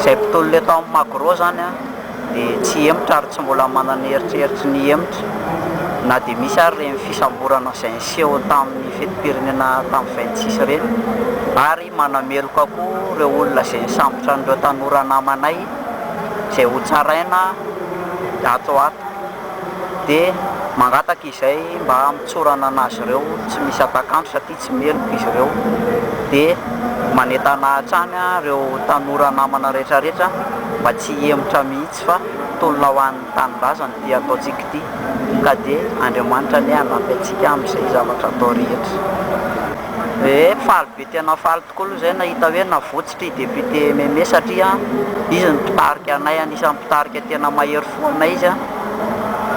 Izay mpitolona eto amin'ny Magro izany dia tsy hihemotra ary tsy mbola manana eritreritry ny hihemotra na dia misy ary ireny fisamborana izay niseho tamin'ny fetim-pirenena tamin'ny vingt six ireny ary manameloka koa ireo olona izay nisambotra an'ireo tanora namanay izay hotsaraina ato ho ato dia mangataka izay mba mitsorana an'azy ireo tsy misy atak'andro satria tsy meloka izy ireo dia manentana hatrany ireo tanora namana rehetra rehetra mba tsy hihemotra mihitsy fa tolona ho an'ny tanindrazana ity ataontsika ity ka dia Andriamanitra anie hanampy antsika amin'izay zavatra atao rehetra. Ee faly be tena faly tokoa aloha izay nahita hoe navotsy. Satria député Meme satria izy no mpitarika anay anisany mpitarika tena mahery fo anay izy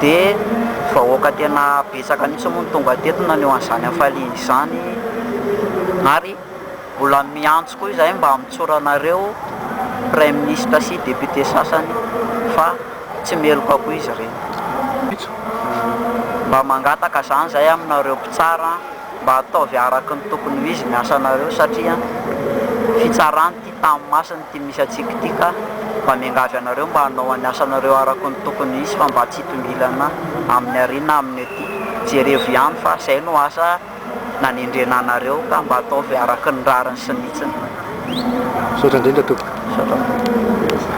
de vahoaka tena betsaka mihitsy moa no tonga teto naneho an'izany hafaliany izany ary mbola miantso koa izahay mba hamotsoranareo praiminisitra sy député sasany fa tsy meloka koa izy ireny mba mangataka izany izahay aminareo mpitsara mba ataovy araka ny tokony ho izy ny asanareo satria fitsarany ity tany masina ity misy antsika ity ka mba miangavy anareo mba hanao any asanareo araka ny tokony ho izy fa mba tsy hitongilana amin'ny arina aminy ety jerevo ihany fa zay no asa nanendrena anareo ka mba ataovy araka ny rariny sy ny hitsiny. Misaotra indrindra tompoko.